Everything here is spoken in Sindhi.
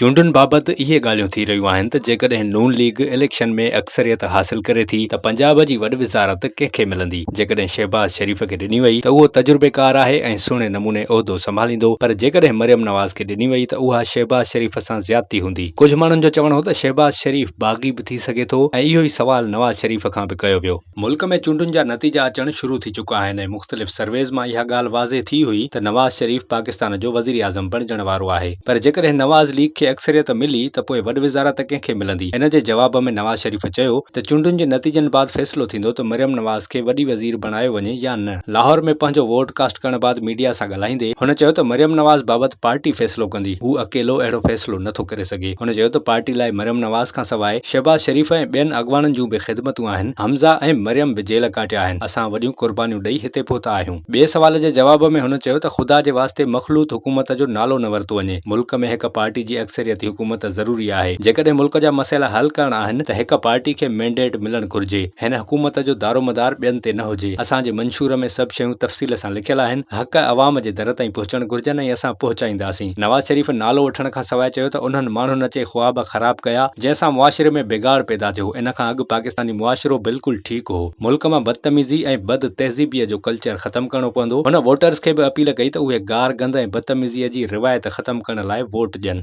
چونڊن بابت اهي ڳالهيون ٿي رهيون آهن ته جيڪڏهن نون ليگ اليڪشن ۾ اڪثريت حاصل ڪري ٿي ته پنجاب جي وڏ وزارت ڪنهن کي ملندي؟ جيڪڏهن شهباز شريف کي ڏني وئي ته اهو تجربيڪار آهي ۽ سهڻي نموني عهدو سنڀاليندو پر جيڪڏهن مريم نواز کي ڏني وئي ته اها شهباز شريف سان زيادتي هوندي. ڪجهه ماڻهن جو چوڻ هو ته شهباز شريف باغي به ٿي سگهي ٿو ۽ اهو ئي سوال نواز شريف کان به ڪيو ويو. ملڪ ۾ چونڊن جا نتيجا اچڻ شروع ٿي چڪا آهن ۽ مختلف سرويز مان اها ڳالهه واضح ٿي هئي ته نواز شريف پاڪستان جو وزيراعظم بڻجڻ وارو آهي پر جيڪڏهن نواز ليگ کي اڪثريت ملي ته پوء وڏ وزارت ڪنهن کي ملندي ان جي جواب ۾ نواز شريف چيو ته چونڊن جي نتيجن بعد فيصلو ٿيندو ته مريم نواز کي وڏي وزير بڻايو وڃي يا نه. لاهور ۾ پنهنجو ووٽ ڪاسٽ ڪرڻ بعد ميڊيا سان ڳالهائيندي هن چيو ته مريم نواز بابت پارٽي فيصلو ڪندي، هو اڪيلو اهڙو فيصلو نه ٿو ڪري سگهي، هن چيو ته پارٽي لاء مريم نواز کان سواء شهباز شريف ۽ ٻين اڳواڻن جون به خدمتون آهن، حمزه ۽ مريم به جيل ڪاٽيا آهن، اسان وڏيون قربانيون ڏئي هتي پهتا آهيون. ٻئي سوال جي جواب ۾ هن چيو ته خدا جي واسطي مخلوط حڪومت جو نالو نه ورتو وڃي، ملڪ ۾ هڪ پارٽي جي اڪثريتي حڪومت ضروري آهي، جيڪڏهن ملڪ جا مسئلا حل ڪرڻا آهن ته هڪ پارٽي کي مينڊيٽ ملڻ گهرجي، هن حڪومت جو دارومدار ٻين تي نه هجي. اسان جي منشور ۾ سڀ شيون تفصيل سان لکيل آهن، حق عوام جي در تائين پهچڻ گهرجن ۽ اسان پهچائينداسين. نواز شريف نالو وٺڻ کان سواء چيو ته انهن ماڻهن اچي خواب خراب ڪيا، جنهن سان معاشري ۾ بگاڙ پيدا ٿيو، ان کان اڳ پاڪستاني معاشرو بلڪل ٺيڪ هو، ملڪ مان بدتميزي ۽ بد تهذيبيء جو ڪلچر ختم ڪرڻو پوندو، هن ووٽرز کي به اپيل ڪئي ته اهي گار گند ۽ بدتميزيء جي روايت ختم ڪرڻ لاء ووٽ ڏين.